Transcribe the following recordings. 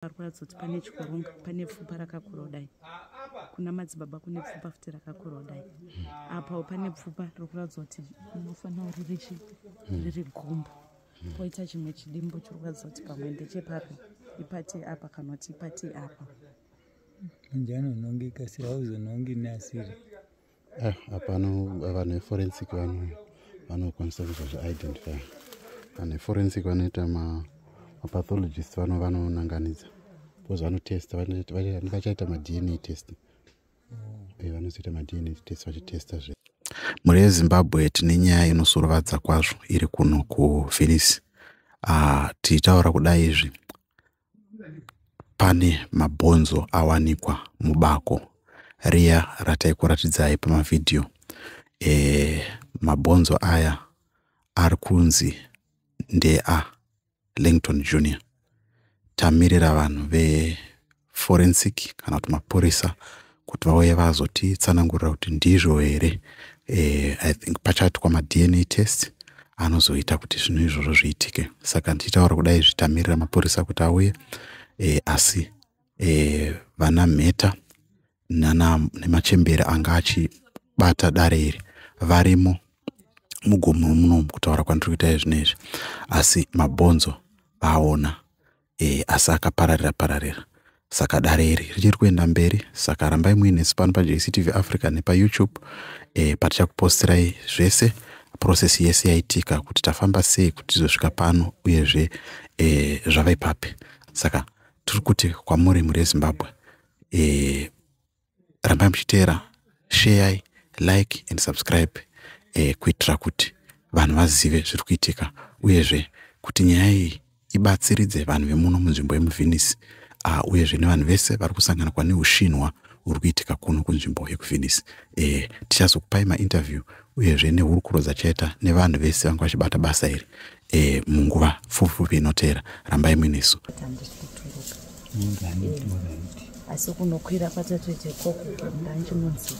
varwadzoti pane chikurunga pane pfupa rakakura kudai kuna madzibaba kune pfupa futi rakakura kudai apawo pane pfupa rikuratidza kuti unofanira uri richi riri gumbo poita chimwe chidimbo chiri kuratidza kuti pamwe ndechepapi ipati apa kana kuti ipati apa njani unongi kasi hauzonongi neasiri Eh, apano vanhu veforensic vanokwanisa kuita zvaidentify vanhu veforensic vanoita mapathologist vano vanonanganidza bcause vanotesta vachaita madna test mm. eh, vanozoita madna test vachitesta zve mhuri yezimbabwe tine nyaya inosurovadza kwazvo iri kuno kuvenice ah, tiitaura kudai izvi pane mabhonzo awanikwa mubako riya rataikuratidzai pamavhidhiyo e, eh, mabhonzo aya ari kunzi ndea langton junior tamirira vanhu veforensic kana kuti mapurisa kuti vauye vazotitsanangurira kuti ndizvo here eh, i think pachaitwa madna test anozoita kuti zvinhu izvozvo zviitike saka ndichitaura kudai zvitamirira mapurisa kuti auye eh, asi eh, vana mheta nemachembere anga achibata dare iri varimo mugomo munomu kutaura kwandiri kuita izvinezvi asi mabhonzo aona e, asi akapararira pararira saka dare iri richiri kuenda mberi saka rambai muine sipano pajctv africa nepayoutube e, patichakupostirai zvese process yese yaitika kuti tafamba sei kuti tizosvika pano uyezve e, zvava ipapi saka tiri kuti kwamuri mhuri yezimbabwe e, rambai muchiteera sheyai like and subscribe eh, kuitira kuti vanhu vazive zviri kuitika uyezve kuti nyaya iyi ibatsiridze vanhu vemuno munzvimbo yemuvhenisi uh, uyezve nevanhu vese vari kusanganwa neushinwa huri kuitika kuno kunzvimbo yekuvhenisi e, eh, tichazokupai mainterview uyezve nehurukuro dzachaita nevanhu vese vanga vachibata basa iri e, munguva fupifupi inoteera rambai muinesu asi kunokwira kwatatoita ikoko ndandimunzi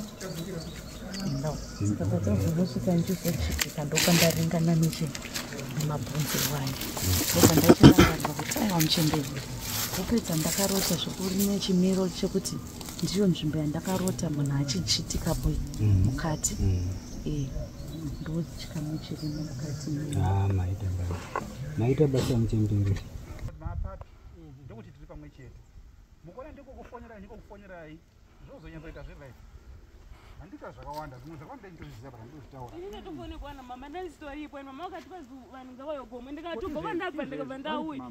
no saka tazongosvika ndizochitika ndokandaringana nechi nemabhunzi wani ndokandachirangana kuti aiwa muchemberi kupedza ndakarota zvekuri nechimiro chekuti ndiyo nzvimbo yandakarota munhu achichitika boi mm. mukati mm. eh, Ah, maita basa maita basa muchembere mapapi ndokuti tiri pamwe chete mukona ndiko kufonerai ndiko kufonerai zvozonyatsoita zvelife handita zvakawanda zvimwe zvakawanda nditozviziva baa ndozvitaura ini ndatofonekwa na mama ndandisitoripo and mama vakati vazi vanhu ngavayogomo ndikati ubva kwandabva ndikabva ndauya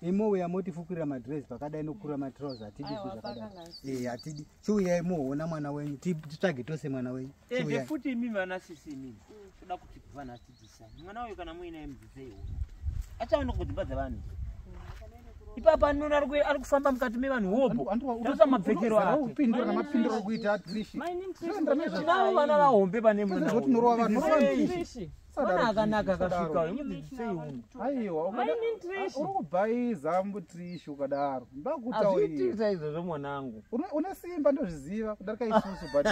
imowe yamotifukurira madress pakadai nokukura matrouse hatidi zvi zvakadai e hatidi chiuyai muona mwana wenyu titsvage tose mwana wenyu e futi imi vana sisi imi toda kuti vanhu atidzisai mwana uyu kana muinaye mudzidzei uno achaona kudzimba dzevanhu ipapa anona ari kufamba mukati mevanhu hobotosa mapfekero akeaoana vahombe pane mwana Mwana akanaka akasvika uyu mudzidzisei uno. Aiwa uri kubhaiza mbutrishi ukadaro. Ndakutaurira izvozvo mwanangu. Une simba ndozviziva kudarika isusu but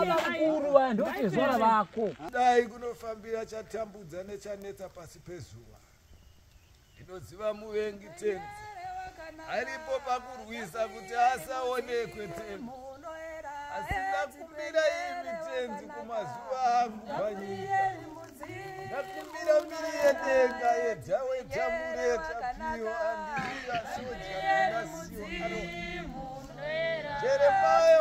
vakuru vanhu ndotezvara vako. Dai kunofambira chatambudza nechanetsa pasi pezuva. ndinoziva muvengi tenzi aripo pakurwisa kuti asaonekwe tenzi asingakumbira imi tenzi kumazuva angu panyika ndakumbira mbiri yedenga yedzawetamuretapiyo andiia soja kunasiyo jeremaya